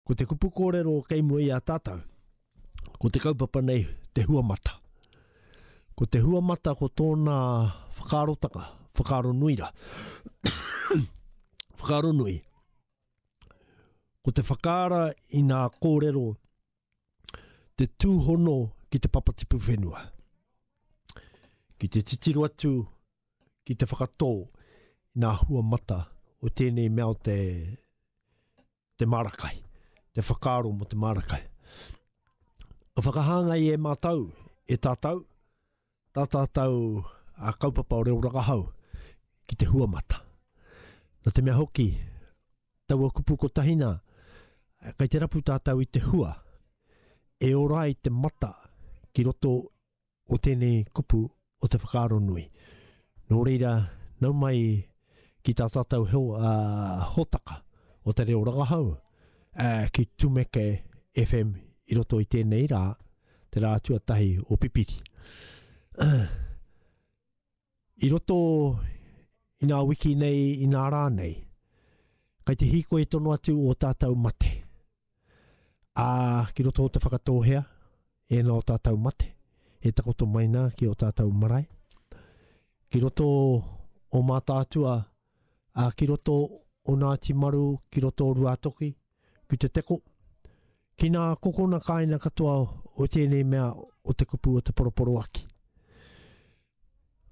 Ko te kupu kōrero kei mua i a tātou, ko te kaupapa nei te hua mata. Ko te hua mata ko tōna whakaarotanga, whakaaro nui ra. whakaaro nui. Ko te whakaara i nā kōrero te tūhono ki te papatipu whenua. Ki te titiro atu, ki te whakatō, nā hua mata o tēnei mea o te te māra kai, te whakaaro mō te māra kai. Ka whakahāngai e mātou, e tātou, tā tātou a kaupapa o reo rakahau ki te huamata. Nā te mea hoki, taua kupu kotahi nā, kai te rapu tātou i te hua, e ora ai te mata ki roto o tēnei kupu o te whakaaro nui. Nō reira, nau mai ki tā tātou heo, uh, hotaka o te reo rangahau, uh, ki Tumeke FM i roto i tēnei rā, te rā tuatahi o Pipiri. I roto i ngā wiki nei, i ngā rā nei, kai te hīkoi tono atu o tātou mate. Ā, ki roto o te whakatōhea, ēnā o tātou mate, e takoto mai nā ki o tātou marae. Ki roto o Mātaatua, ā, ki roto o Ngāti Maru, ki roto o Ruātoki, ki Te Teko, ki nā kokona kāina katoa o tēnei mea o te kupu o te poroporoaki.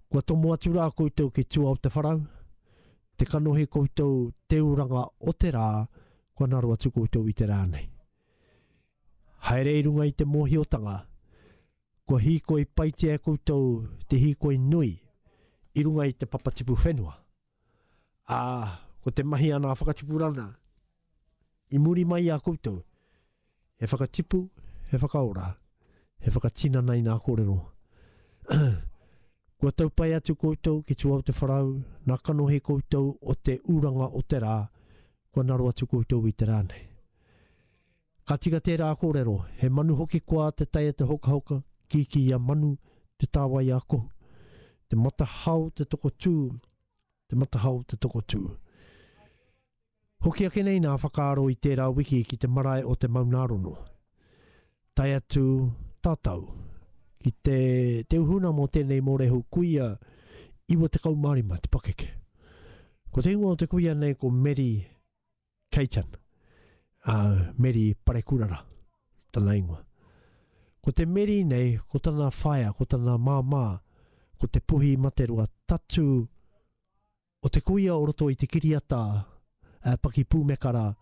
Kua tomo atu rā koutou ki tua o te wharau, te kanohi koutou te uranga o te rā, kua naro atu koutou i te rā nei. Haere i runga i te mōhiotanga, Kua hīkoi paitia e koutou te hīkoi nui i runga i te papatipu whenua, ā, ko te mahi a ngā whakatipuranga i muri mai i a koutou, he whakatipu, he whakaora, he whakatinana i ngā kōrero. Kua tau pai atu koutou ki tua o te wharau, nā kanohi koutou o te uranga o te rā, kua ngaro atu koutou i te rā nei. Ka tika tērā kōrero, he manu hoki koa te tae e te hokahoka, kīkī ia manu, te tāwai a kohu. Te matahao te tokotū, te matahao te tokotū. Hoki ake nei nā whakaaro i tērā wiki ki te marae o te Maunārono. Tae atu tātou ki te, te uhuna mō tēnei mōrehu kuia 95 te pakeke. Ko te ingoa o te kuia nei ko Meri Caitan, a Meri Parekurara, tana ingoa. Ko te Meri nei, ko tana whaea, ko tana māmā, ko te Puhi Materoa, tatu o te kuia o roto i te kiriata uh, Pakipūmekara,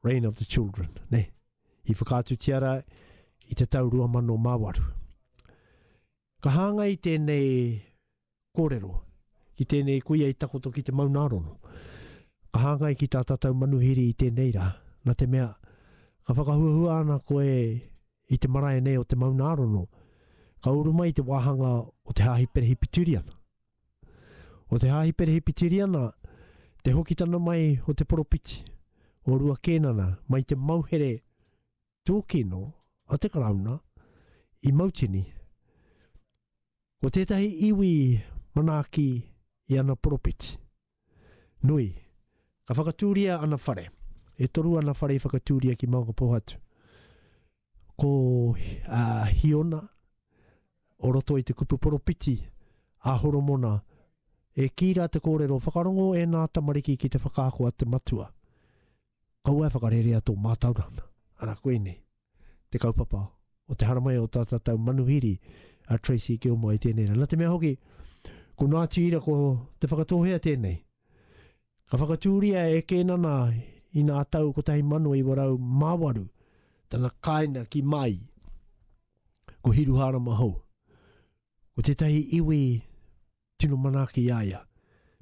Reign of the Children, ne? I whakaatu tiara i te tau rua mano mawaru. Ka hāngai tēnei kōrero ki tēnei kuia i takoto ki te Maunārono. Ka hāngai ki tā tātou manuhiri i tēnei rā, nā te mea, ka whakahuahua ana koe i te marae nei o te Maunārono, ka uru mai te wāhanga o te Hāhi Perehipitiriana. O te Hāhi Perehipitiriana, te hokitana mai o te poropiti, o Rua Kēnana, mai te mauhere tūkino a te Karauna i Mautini. Ko tētahi iwi manaaki i ana poropiti. Nui. Ka whakatūria ana whare. E toru ana whare i whakatūria ki Maungapōhatu. Ko a Hiona, o roto i te kupu poropiti a Horomona, e kī rā te kōrero, whakarongo ēnā tamariki ki te whakaako a te Matua. Kaua e whakarerea tō mātauranga. Ana koinei te kaupapa o te haramai o tā tātou manuhiri a Tracey Gilmore i tēnei rā. Nā te mea hoki, ko Ngāti Ira, ko Te Whakatōhea tēnei. Ka whakatūria e Kēnana i nā tau 1908 tana kāinga ki Māi. Ko Hiruhārama Hou, ko tētahi iwi Tino manaaki i a ia.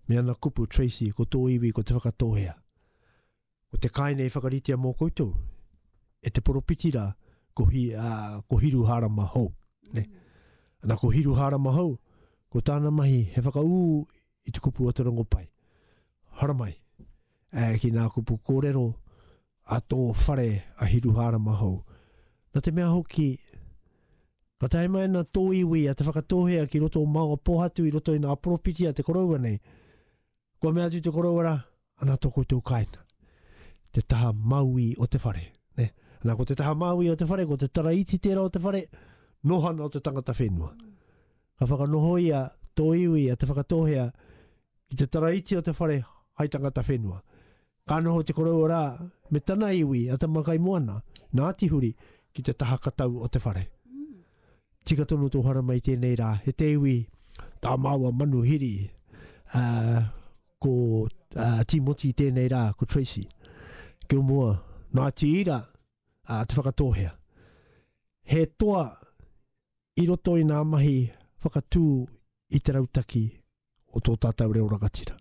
Me ana kupu, Tracey, ko tō iwi ko Te Whakatōhea. Ko te kāinei i whakaritea mō koutou, e te poropiti rā, ko, hi, a, ko Hiruhārama Hou. Ne? Ana ko Hiruhārama Hou, ko tāna mahi he whakaū i te kupu o te rongopai. Haramai, e, ki nā kupu kōrero, a tō whare a Hiruhārama hou. Nā te mea hoki, ka tae mai ana tō iwi a Te Whakatōhea ki roto o Maunga Pōhatu i roto i ngā poropiti a te koroua nei, kua mea atu te koroua rā, ana tō koutou kāinga, te taha māui o te whare. Ne? Ana ko te taha māui o te whare, ko te taraiti tērā o te whare, nohana o te tangata whenua. Ka whakanohoia tō iwi a Te Whakatōhea ki te taraiti o te whare hai tangata whenua. Ka noho te koroua rā me tana iwi a Tamakaimoana, nā Tihuri, ki te taha katau o te whare. Tika tonu tō harama i tēnei rā, he te iwi tā māua manu hiri, ā, ko ā, Tīmoti i tēnei rā, ko Tracy Gilmore, nā Tīra, ā, te whakatōhea. He toa i roto i ngā mahi whakatū i te rautaki o tō tātou reo rangatira.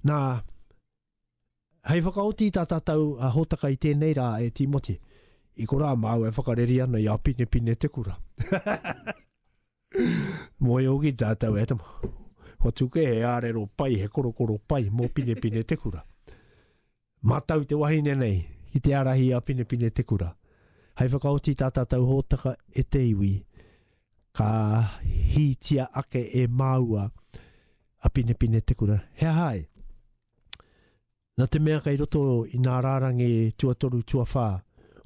Nā, hei whakaoti i tā tātou a hōtaka i tēnei rā e Tīmoti, i ko rā māu e whakareri ana i a pine pine te kura. Mō e ogi tātou e tama. Ko tuke he ārero pai, he korokoro pai, mō pine pine te kura. Mātau te wahine nei ki te ārahi a Pinepine Te Kura. Hei whakaoti i tā tātou hōtaka e te iwi, ka hītia ake e māua a Pinepine Te Kura. He aha ai? Nā te mea kei roto i nā rārangi tuatoru tuawhā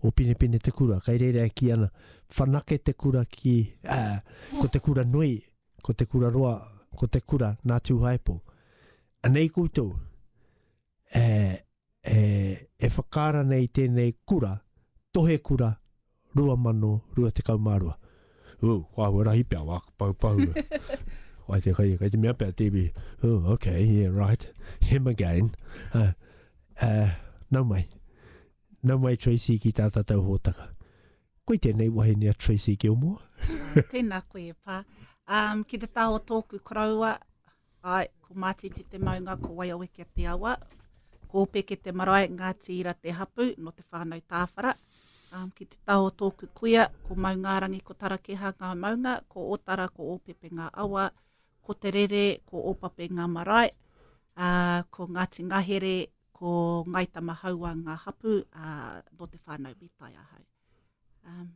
o Pinepine Te Kura, kei reira e kī ana, whanake te kura ki, ā, ko te kura nui, ko te kura roa, ko te kura nā Tūhaepo. Anei koutou, e, e, e whakaara nei i tēnei kura, Tohe Kura 2022. Ū, kua ahua rahi pia, wā, pau, pau. Wai te kai, kai te mea pia TV. Ū, ok, yeah, right. Him again. Uh, uh, nau mai. Nau mai Tracy ki tā tātou hōtaka. Koi tēnei wahine a Tracy Gilmore. Ah, tēnā koe e pā. Um, ki te tā o tōku koroua, Āe, ko Mātiti te maunga, ko Waiawekia te awa, ko Ōpeke te marae, Ngāti Ira te hapu, nō Te Whānau Tāwhara. Um, ki te taha o tōku kuia, ko Maungārangi, ko Tarakeha ngā maunga, ko Ōtara, ko Ōpepe ngā awa, ko Te Rere, ko Ōpape ngā marae, ā, ko Ngāti Ngahere, ko Ngāi Tamahaua ngā hapu, ā, nō Te Whānau Mītai ahau. Um,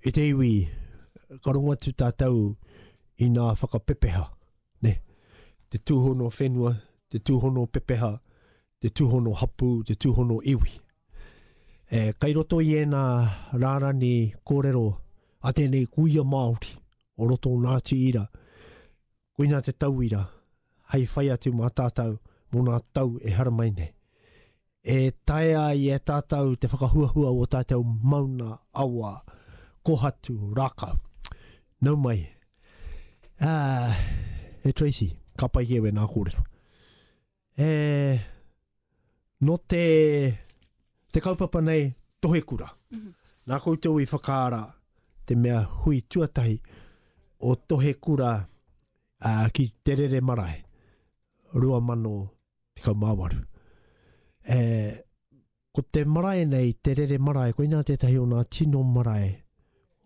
I te iwi, ka rongo atu tātou i nā whakapepeha, ne? Te tūhono whenua, te tūhono pepeha, te tūhono hapū, te tūhono iwi. E, kai roto i ēnā rārani kōrero a tēnei kuia Māori o roto o Ngāti Ira, koina te tauira hei whai atu mā tātou mō nā tau e haramai nei. E taea ai e tātou te whakahuahua o ō tātou mauna awa, kohatu, rākau. Nau mai. Ā, e Tracy, ka pai ki au ēnā kōrero. E, nō te, te kaupapa nei, Tohekura. Nā koutou i whakaara te mea hui tuatahi o Tohekura ā, ki Te Rere Marae, 2000. 18. E, ko te marae nei, te rere marae, koina tētahi o nā tino marae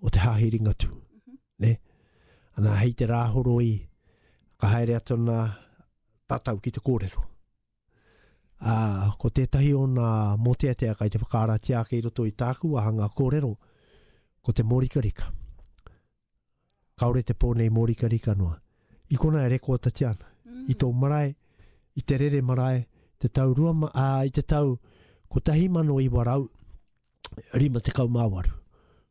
o te Hāhi Ringatū. Mhm. Ne? Ana, hei te rāhoroi, ka haere atu nā tātou ki te kōrero. A, ko tētahi o nā mōteatea kai te whakaaratia ake i roto i tāku wāhanga kōrero, ko te mōrikarika. Kāore te pō nei mōrikarika noa. I konā e rekōtatia ana. I tō marae, i te rere marae, te tau rua, ā, i te tau 1958,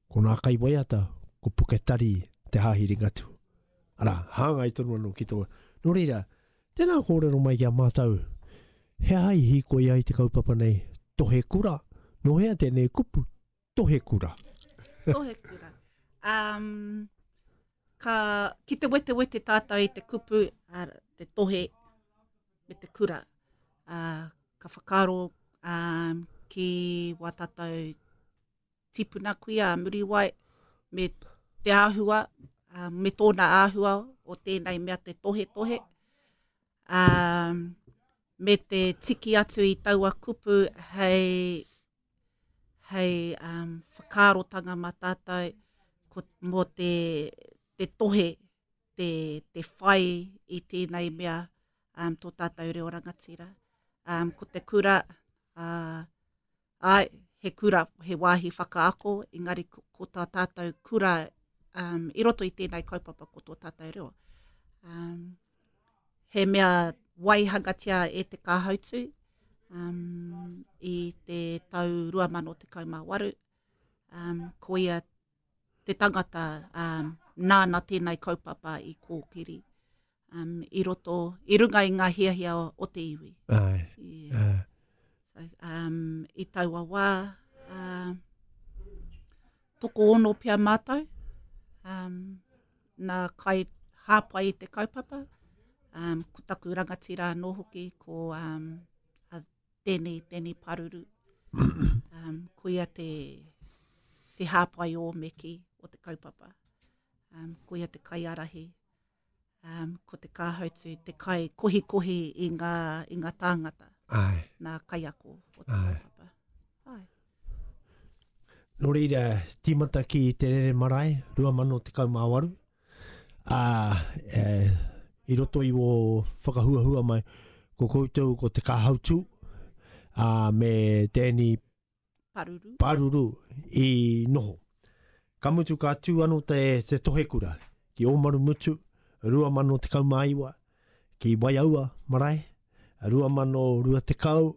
ko nā kaiwaiata, ko Puke Tari Te Hāhi Ringatu. Arā, hāngai tonu anō ki tō. Nō reira, tēnā kōrero mai ki a mātou, he aha i hīkoi ai te kaupapa nei, Tohekura, nō hea tēnei kupu, Tohekura. Tohekura. Um, ka, ki te wete wete tātou i te kupu, uh, te tohe me te kura. Uh, ka whakaro um, ki wā tātou tipuna kui a Muriwai me te āhua, uh, me tōna āhua o tēnei mea te tohe tohe. Um, me te tiki atu i taua kupu hei hei um, whakaarotanga ma tātou ko, mō te, te tohe, te, te whai i tēnei mea um, tō tātou reo rangatira. Um, ko te kura, uh, ai, he kura, he wāhi whakaako, engari ko, ko tā tātou kura um, i roto i tēnei kaupapa ko tō tātou reo. Um, he mea waihangatia e te kāhautu um, i te tau 2018. Um, ko ia te tangata um, nāna tēnei kaupapa i kōkiri um, i roto, i runga i ngā hiahia o, o te iwi. Ai. Yeah. Uh. So, um, I taua wā, uh, toko ono pia mātou. Um, Nā kai hāpai i te kaupapa, um, ko taku rangatira anō hoki, ko um, a Deni, Deni Paruru. Um, koia te, te hāpai o Meki o te kaupapa. Um, koia te kai arahi. Um, ko te kāhautu, te kai kohikohi i ngā, i ngā tāngata. Ai. Nā kai ako o te Ai. kaupapa. Ai. Nō reira, tīmata ki te rere marae, 2018, ā, e, i roto i wō whakahuahua mai, ko koutou ko te kāhautū, ā, me te eni Paruru. Paruru i noho. Ka mutu ka tū ano te, te tohekura ki Ōmaru Mutu, 2019, ki Waiaua Marae, 2020,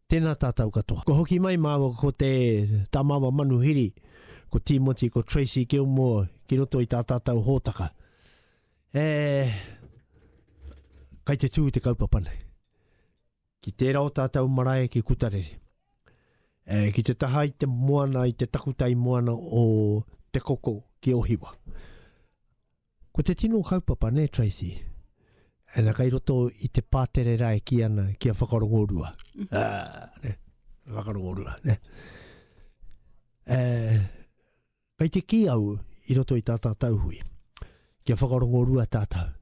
Tēnā tātou katoa. Kua hoki mai māua ko te, tā māua manuhiri, ko Tīmoti, ko Tracey Gilmore ki roto i tā tātou hōtaka. E, kai te tū te kaupapa nei. Ki tērā o tātou marae ki Kutarere. E, ki te taha i te moana, i te takutai moana o Te Koko ki Ohiwa. Ko te tino kaupapa ne Tracey? Ana kai roto i te pātere rā e kī ana kia whakarongorua. Mm. Ah, ne, whakarongorua, ne. Eh, kai te kī au i roto i tā tātou hui, kia whakarongorua tātou.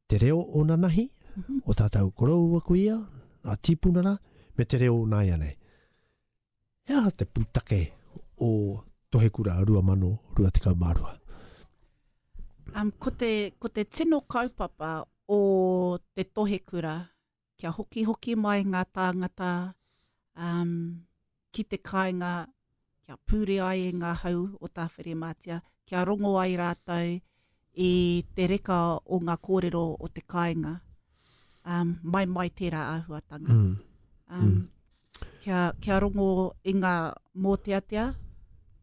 Te reo o nanahi, mm -hmm. o tātou koroua kuia, a tīpuna rā, me te reo o nāia nei. He aha te pūtake o Tohekura 2022? Um, ko, te, ko te tino kaupapa o te Tohekura, kia hokihoki mai ngā tāngata um, ki te kāinga, kia pūre ai e ngā hau o Tāwhirimātia, kia rongo ai rātou I te reka o nga korero o te kainga, um, mai mai tera ahuatanga. Mm. Um, mm. Kia, kia rongo i nga moteatea,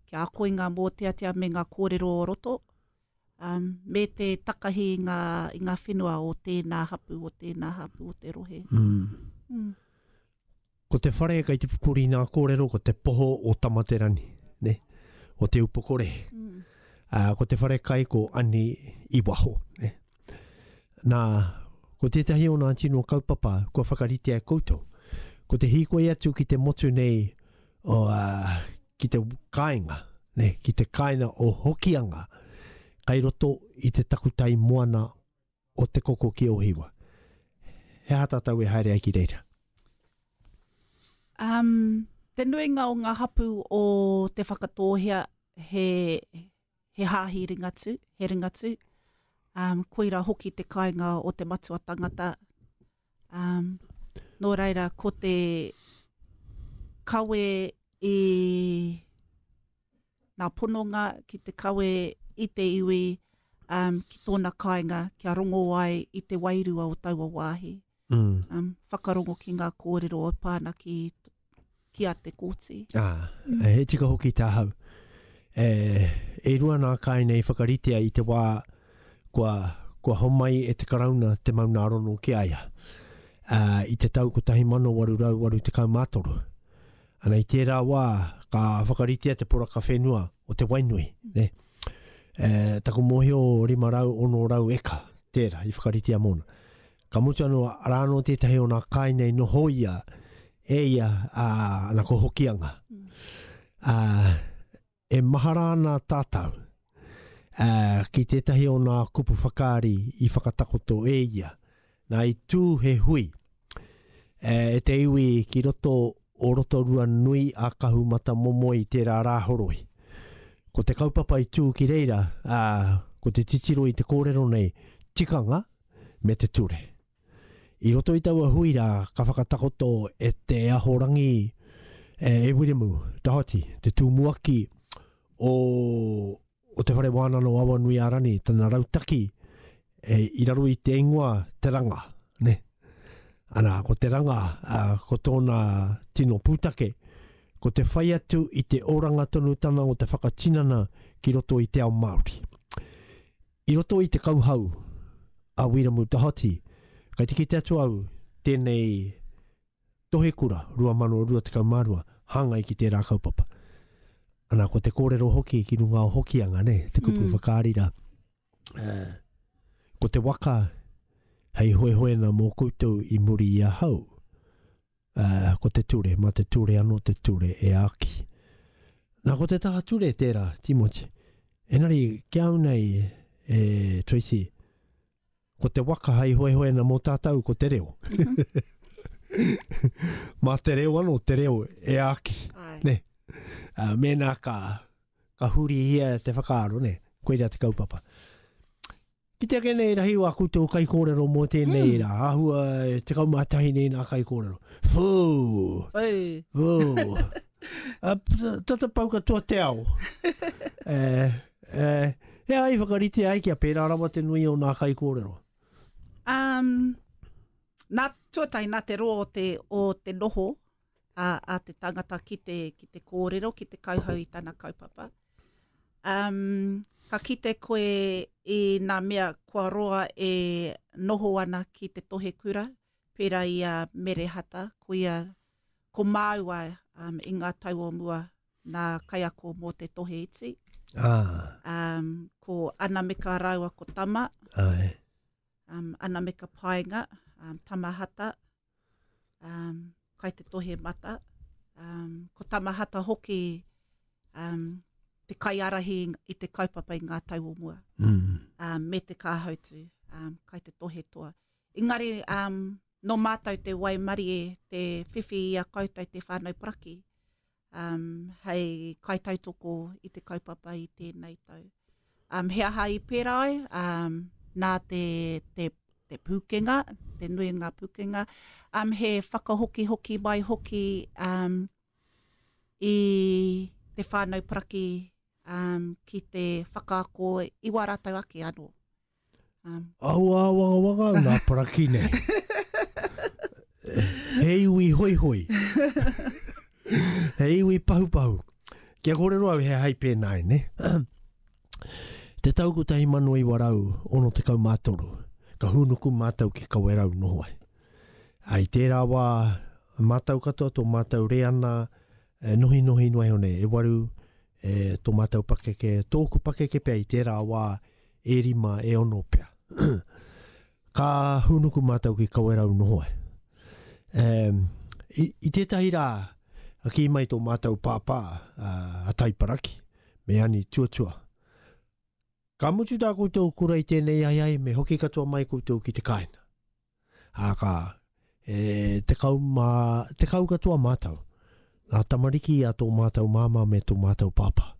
kia ako i nga moteatea me nga korero o roto, um, me te takahi i nga, i nga whenua o tēnā hapu, o tēnā hapu, o te rohe. Mm. Mm. Ko te whare kei te pupuri nā kōrero ko te poho o Tamaterani, ne? o Te Upokore. Mm. Uh, ko te whare kai ko Ani i waho. Ne? Nā, ko tētahi o nā tino kaupapa kua whakaritea e koutou. Ko te hīkoi atu ki te motu nei o, uh, ki te kāinga, ne? ki te kāina o Hokianga, kai roto i te takutai moana o Te Koko ki Ohiwa. He aha tātou e haere ai ki reira? Um, te nuinga o ngā hapu o Te Whakatōhea he, he hāhi ringatu, he ringatu. Um, koira hoki te kainga o te matua tangata. Um, nō reira, ko te kawe i ngā pononga ki te kawe i te iwi um, ki tōna kāinga kia rongo ai i te wairua o taua wāhi. Mm. Um, whakarongo ki ngā kōrero o pāna ki, ki a te kōti. Ah, mm. he tika hoki tā hau. E, e rua nā kāinga i whakaritea i te wā kua, kua homai e te karauna te mauna arono ki aia. Uh, I te tau 1883, Ana i tērā wā, ka whakaritea te poraka whenua o Te Wainui. Ne? E, taku mōhio 500-600 eka, tērā, i whakaritea mōna. Ka mutu anō, arā anō tētahi o nā kāinga i noho ia, e ia, a, ana ko Hokianga. Mm. A, E mahara ana tātou, ā, ki tētahi o nā kupu whakaari i whakatakoto e ia, nā, i tū he hui, ā, e te iwi ki roto o Rotorua nui a Kahumatamomoe i tērā rā horoi. Ko te kaupapa i tū ki reira, ā, ko te titiro i te kōrero nei, tikanga me te ture. I roto i taua hui rā, ka whakatakoto e Te Ahorangi, e Wiremu Doherty, te tūmuaki o, o Te Whare Wānano Awanuiārani, tana rautaki e, i raro i te ingoa Te Ranga. Ne? Ana, ko Te Ranga, a, ko tōna tino pūtake, ko te whai atu i te oranga tonutanga o te whakatinana ki roto i te ao Māori. I roto i te kauhau a Wiramu Tahoti, kai te kite atu au tēnei Tohekura 2022 hāngai ki tērā kaupapa. Ana, ko te kōrero hoki ki runga o Hokianga, ne, te kupu mm. whakaari rā. Uh, ko te waka hei hoehoena mō koutou i muri i ahau, Ā, ko te ture, mā te ture anō te ture e āki. Nā, ko te taha ture tērā, Tīmoti. Engari, ki au nei, e Tracy, ko te waka hai hoehoena mō tātou ko te reo. mā te reo anō, te reo e āki. Ne? Uh, mēnā ka, ka hurihia te whakaaro, ne? koira te kaupapa. Ki te eke nei rahi a koutou kaikōrero mō tēnei rā, āhua e tekau mā tahi nei nā kaikōrero. Whoo! Whoo! Tata pau katoa te ao. Eh, eh, e ai whakarite ai kia pērā rawa te nui o nā kaikōrero? Um, nā tuatahi, nā te roa o te, o te noho, a, a te tangata ki te, ki te kōrero, ki te kauhau i tana kaupapa. Um, ka kite koe i nā mea kua roa e noho ana ki te tohe kura, pērā i a Merehata, ko ia, ko māua um, i ngā tau o mua nā kaiako mō te tohe iti. Ah. Um, ko Anameka rāua ko Tama. Ai. Um, Anameka Paenga, um, Tama Hata, um, kai te tohe mata. Um, ko Tamahata hoki um, te kaiarahi i te kaupapa i ngā tau o mua. Mm. Um, me te kāhautu, um, kai te tohe toa. Engari, um, no mātou te waimarie, te whiwhi i a koutou te whānau paraki. um, hei kaitautoko i te kaupapa i tēnei tau. Um, he aha i pērā ai? Um, nā te, te, te pūkenga, te nui ngā pūkenga. Um, he whakahokihoki mai hoki um, i te whānau paraki um, ki te whakaako i wā rātau ake anō. Aua āwangawanga au nā paraki nei. He iwi hoihoi. He iwi pahupahu. Kia kōrero au he hai pēnā e, ne? Te tau 1963, ka hūnuku mātou ki Kawerau noho ai. Ai tērā wā, mātou katoa tō mātou reana e nohinohi noa iho nei, e waru, E tō mātou pakeke, tōku pakeke pea i tērā wā e rima, e ono pea. Ka hūnuku mātou ki Kawerau noho ai. E, i, i tētahi rā, a kī mai tō mātou pāpā, a, a Taiparaki, me Ani Tuatua. Ka mutu tā koutou kura i tēnei ai ai, me hoki katoa mai koutou ki te kāina. Ā kā, E tekau mā, tekau katoa mātou, ngā tamariki a tō mātou māmā me tō mātou pāpā.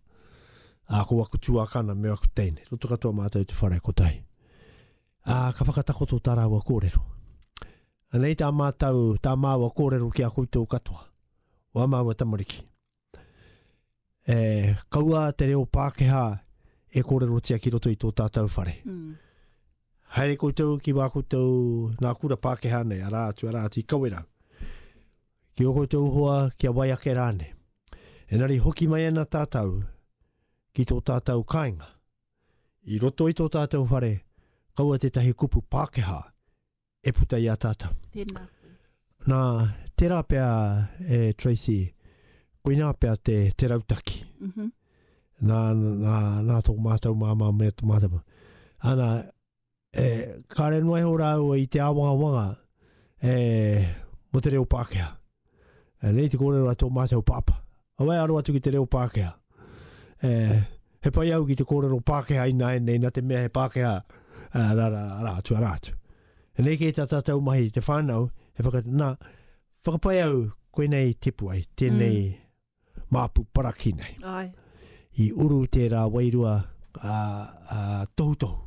Ā, ko aku tuākana me aku teine, roto katoa mātou i te whare kotahi. Ā, ka whakatakoto tā rāua kōrero. Anei tā mātou, tā māua kōrero ki a koutou katoa, o ā māua tamariki. e kaua te reo Pākehā e kōrerotia ki roto i tō tātou whare. Mm. Haere koutou ki wā koutou ngā kura Pākehā nei, arā atu, arā atu, i kawerau. Ki o koutou hoa, ki a wai ake rāne. Enari hoki mai ana tātou ki tō tātou kāinga. I roto i tō tātou whare, kaua tētahi kupu Pākehā e puta i a tātou. Tēnā koe. Nā, tērā pea e Tracy, koinā pea te, te rautaki. Mm -hmm. nā, nā, nā tō mātou māmā me tō mātou. Ana, e, kāre noa e ho rāua i te āwangawanga e, mo te reo Pākehā. E, nei te kōrero a tō mātou pāpā. Aue aro atu ki te reo Pākehā. E, he pai au ki te kōrero Pākehā ināianei ina te mea he Pākehā rā, rā, rā atu, arā atu. E nei kei tā tātou mahi i te whānau, he whaka, nā, whakapai au koinei tipu ai, tēnei mm. māpu paraki nei. Ai. I uru tērā wairua a, a, tohutohu.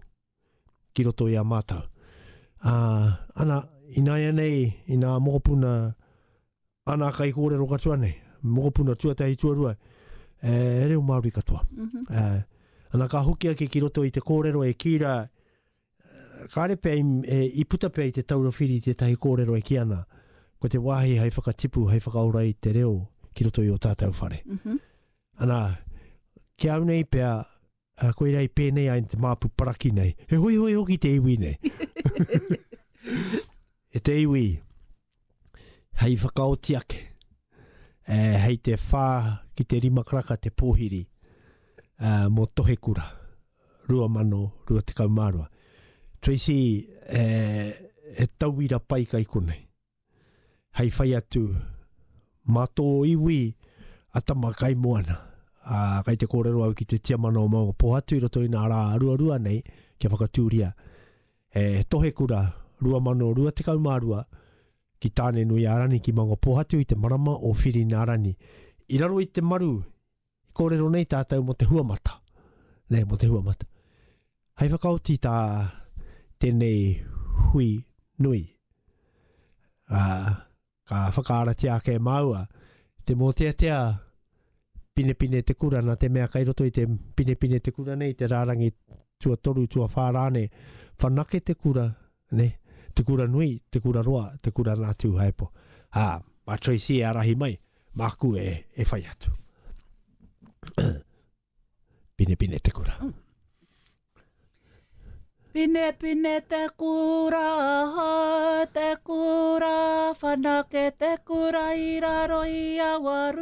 ki roto i a mātou. Ā, ana, ināianei, inā mokopuna ana kaikōrero katoa nei, mokopuna tuatahi, tuarua, e reo Māori katoa. Ā, ana, ka hoki ake ki roto i te kōrero e kī rā, kāre pea i, i puta pea i te taura whiri tētahi kōrero e kī ana, ko te wāhi hai whakatipu, hai whakaora i te reo ki roto i ō tātou whare. Ana, ki au nei pea, Uh, koirā i pēnei ai te māpu paraki nei. He hoihoi hoki te iwi nei. e te iwi, hei whakaoti ake, e, hei te whā ki te rima karaka te pōhiri uh, mō Tohekura, 2022. Tracy, e, he tauira pai kai konei. hei whai atu mā tō iwi a Tama Kaimoana. Ā, kei te kōrero au ki te tiamana o Maungapōhatu i roto i nā rā ruarua nei kia whakatūria he tohekura 2022 ki Tāne-nui-ā-Rani ki Maungapōhatu i te marama o Whirinārani. I raro i te maru I kōrero nei tātou mō te huamata. Nei, mō te huamata. Hai whakaoti tā tēnei hui nui. Uh, ka whakaaratia ake māua te mōteatea pinepine te kura na te mea kai roto i te pinepine te kura nei, te rārangi tua toru, tua whārāne, whanake te kura nē, Te Kura Nui, Te Kura Roa, Te Kura Nā Tūhaepo, ā, mā Tracey e ārahi mai, māku e, e whai atu. Pinepine te kura. Mm. Pine pine te kura, te kura, whanake te kura i raro i awaru.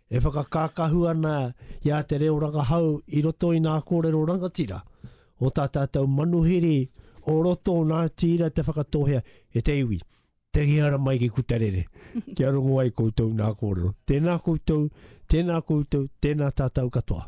E whakakākahu ana i a Te Reo Rangahau i roto i nā kōrero rangatira o tā tātou manuhiri o roto nā tira te whakatohea e te iwi, te ngihara mai ki Kutarere, kia rongo ai koutou nā kōrero. Tēnā koutou, tēnā koutou, tēnā tātou katoa.